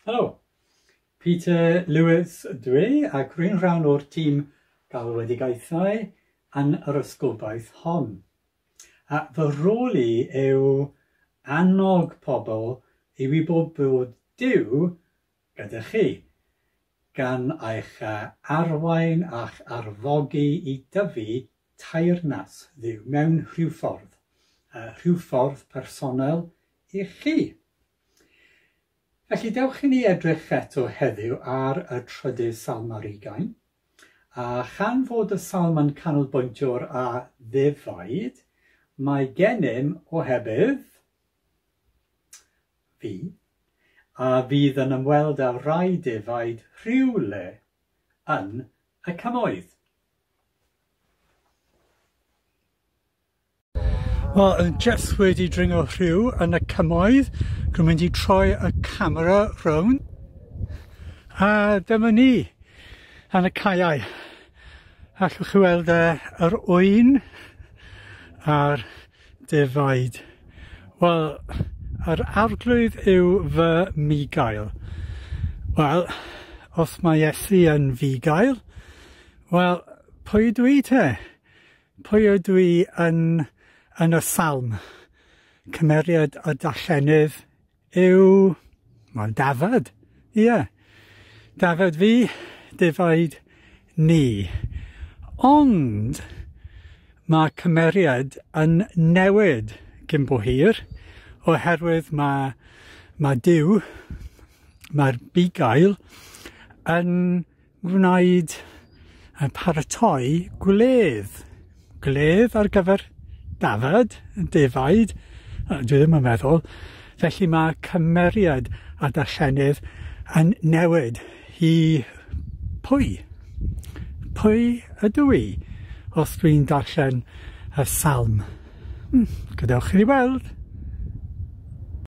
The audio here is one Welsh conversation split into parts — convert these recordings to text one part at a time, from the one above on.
Helo, Peter Lewis dwi ac rwy'n rhan o'r tîm galwedigaethau yn yr ysgobaeth hon. A fy rôl i yw annog pobl i wybod bod Dyw gyda chi, gan eich arwain a'ch arfogi i dyfu teyrnas Dduw mewn rhyw ffordd, rhyw ffordd personol i chi. Felly dewch i ni edrych eto heddiw ar y trydydd salm ar ugain, a chan fod y salm yn canolbwyntio'r a ddefaid, mae gennym ohebydd fi, a fydd yn ymweld â rai defaid rhywle yn y Cymoedd. Wel, yn just wedi dringo rhyw yn y Cymoedd, dwi'n mynd i troi y camera rown. A dyma ni, yn y caeau. Allwch chi weld uh, yr oen a'r Defaid. Wel, yr Arglwydd yw fy mi-gael. Wel, os mae Iesu yn fi-gael, wel, pwy ydw i te? Pwy ydw i yn yn y salm? Cymeriad a darllenydd Yw, wel dafad, ie, dafad fi, defaid ni. Ond mae cymeriad yn newid cyn bo hir oherwydd mae mae Duw, mae'r bugail yn Gwnaed a pharatoi gwledd. Gwledd ar gyfer dafad, defaid, dwi ddim yn meddwl. Felly mae cymeriad a darllenydd yn newid i pwy? Pwy ydw i os dwi'n darllen y salm? Hmm, gadewch i ni weld.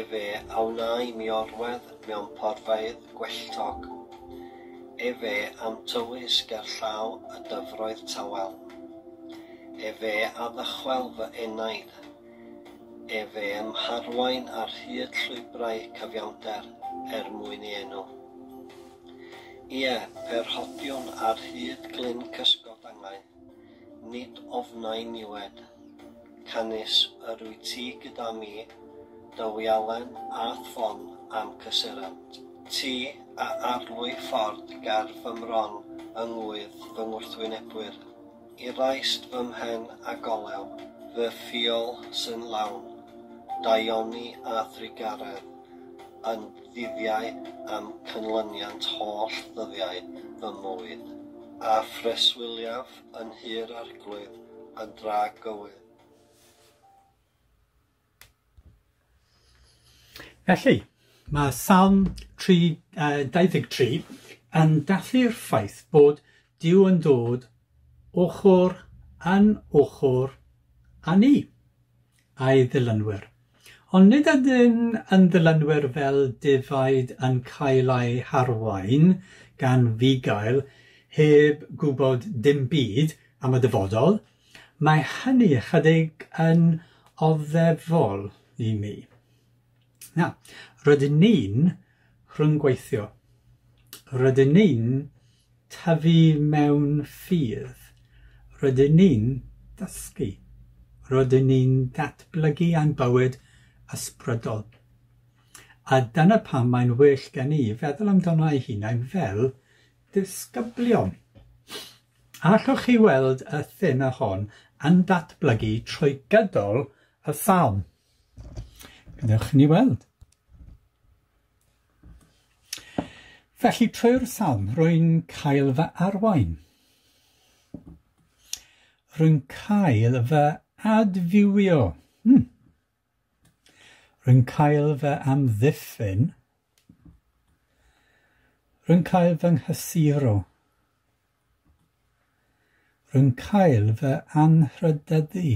Efe a wnâi mi orwedd mewn porfeydd gwelltog, efe a'm tywys ger llaw y dyfroedd tawel, efe a ddychwel fy enaid, efe a'm harwain ar hyd llwybrau cyfiawnder er mwyn ei enw. Ie, pe rhodiwn ar hyd glyn cysgodangau, Nid ofnai niwed. Canys yr wyt ti gyda mi, dy wialen a thwon a'm cysurant. Ti a arlwy ford ger fy mron yng ngŵydd fy ngwrthwynebwyr, i raist fy mhen a golew fy ffiol sy'n lawn daioni a thrugaredd, yn ddyddiau am cynlyniant holl ddyddiau fy mywyd, a phreswyliaf yn hir arglwydd a drag gywydd. Felly, mae Salm 3, uh, 23 yn dathlu'r ffaith bod Dyw yn dod ochr yn ochr â ni. a'i ddilynwyr. Ond nid ydyn yn ddilynwyr fel defaid yn cael eu harwain gan fugail heb gwybod dim byd am y dyfodol, mae hynny ychydig yn oddefol i mi. Na, rydyn ni'n rhyngweithio. Rydyn ni'n tyfu mewn ffydd. Rydyn ni'n dysgu. Rydyn ni'n datblygu ein bywyd ysbrydol. A dyna pam mae'n well gen i feddwl amdano ei hunain fel disgyblion. A allwch chi weld y thema hon yn datblygu trwy gydol y salm? Wnewch ni weld. Felly trwy'r salm, rwy'n cael fy arwain. Rwy'n cael fy adfywio. Hmm. Rwy'n cael fy amddiffyn. Rwy'n cael fy nghysuro. Rwy'n cael fy anrhydyddu.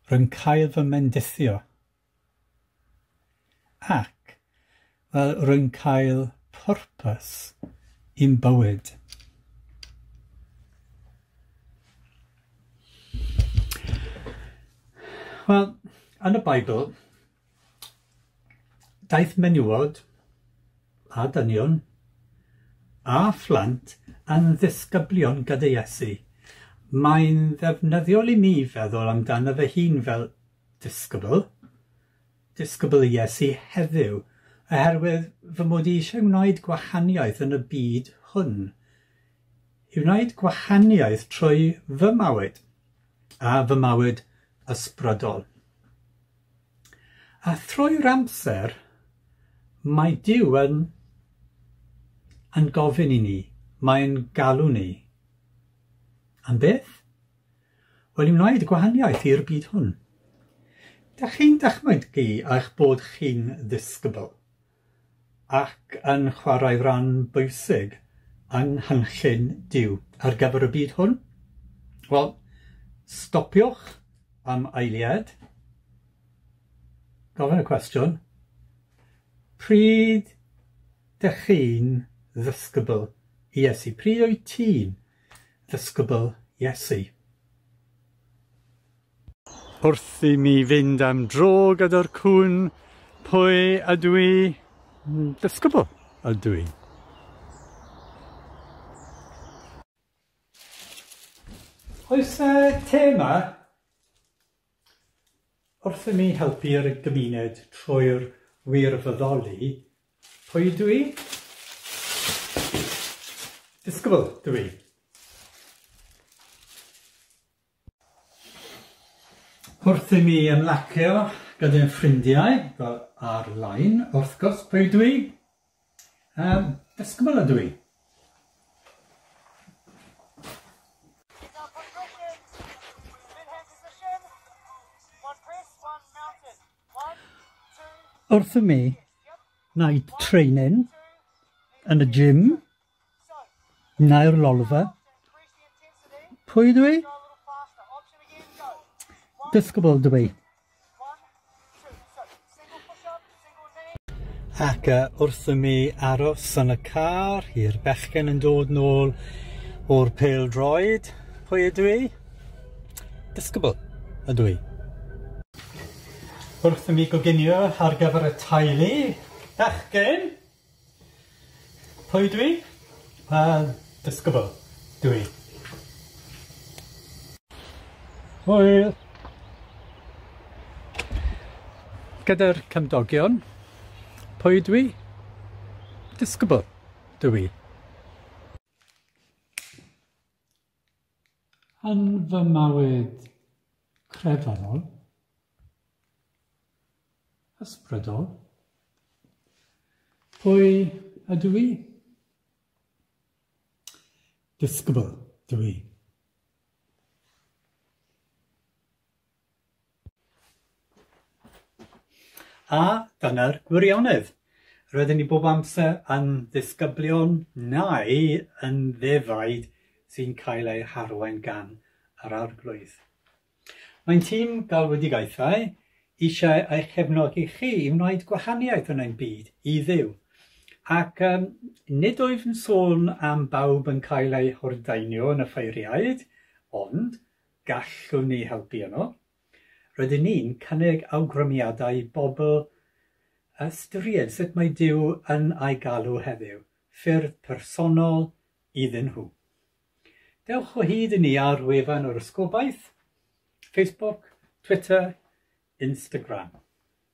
Rwy'n cael fy mendithio. Ac, wel, rwy'n cael pwrpas i'm bywyd. Wel, yn y Beibl, Daeth menywod a dynion a phlant yn ddisgyblion gyda Iesu. Mae'n ddefnyddiol i mi feddwl amdano fy hun fel disgybl, disgybl Iesu heddiw, oherwydd fy mod i eisiau gwneud gwahaniaeth yn y byd hwn, i wneud gwahaniaeth trwy fy mywyd a fy mywyd ysbrydol. A thrwy'r amser, mae Duw yn... yn gofyn i ni, mae'n galw ni. Am beth? Wel, i wneud gwahaniaeth i'r byd hwn. Dach chi'n dychmygu eich bod chi'n ddisgybl? ac yn chwarae rhan bwysig yng nghynllun Duw ar gyfer y byd hwn? Wel, stopiwch am eiliad, gofyn y cwestiwn, pryd dych chi'n ddysgybl i Iesu? Pryd wyt ti'n ddysgybl Iesu? Wrth i mi fynd am dro gyda'r cŵn, pwy ydw i? Disgybl ydw i. Oes y te yma? Wrth i mi helpu'r gymuned trwy'r wirfoddoli, pwy ydw i? Disgybl ydw i. Wrth i mi ymlacio gyda ffrindiau, fel ar-lein, wrth gwrs, pwy ydw i? Yym, disgybl ydw i. Wrth i mi wneud training yn y gym, Neu'r lolfa. Pwy dwi? Disgybl dwi. Ac uh, wrth i mi aros yn y car, i'r bechgen yn dod nôl o'r pel droed, pwy ydw i? Disgybl ydw i. Wrth i mi goginio ar gyfer y teulu, bechgen, Pwy ydw i? Wel, disgybl dw i. Hwyl! Gyda'r cymdogion, pwy ydw i? Disgybl dw i. Yn fy mywyd crefyddol, ysbrydol, pwy ydw i? Disgybl dw i. A dyna'r gwirionedd. Roedden ni bob amser yn ddisgyblion neu yn ddefaid sy'n cael eu harwain gan yr Arglwydd. Mae'n tîm galwedigaethau eisiau eich cefnogi chi i wneud gwahaniaeth yn ein byd i Dduw. Ac um, nid wyf yn sôn am bawb yn cael eu hordaenio yn y ffeiriaid, ond Gallwn ni helpu yno. Rydyn ni'n cynnig awgrymiadau i bobl ystyried sut mae Duw yn eu galw heddiw, ffyrdd personol iddyn nhw. Dewch o hyd i ni ar wefan yr Ysgobaeth, Facebook, Twitter, Instagram.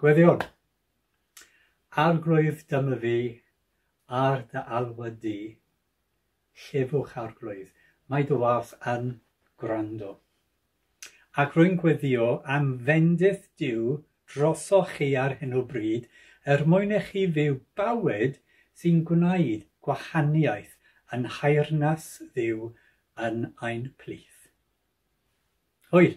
Gweddïwn. Arglwydd dyma fi ar dy alwad di, llefwch Arglwydd, mae dy wâth yn gwrando. Ac rwy'n gweddïo am fendith Duw drosoch chi ar hyn o bryd er mwyn i chi fyw bywyd sy'n gwneud gwahaniaeth yn nhaearnas Dduw yn ein plith. Hwyl!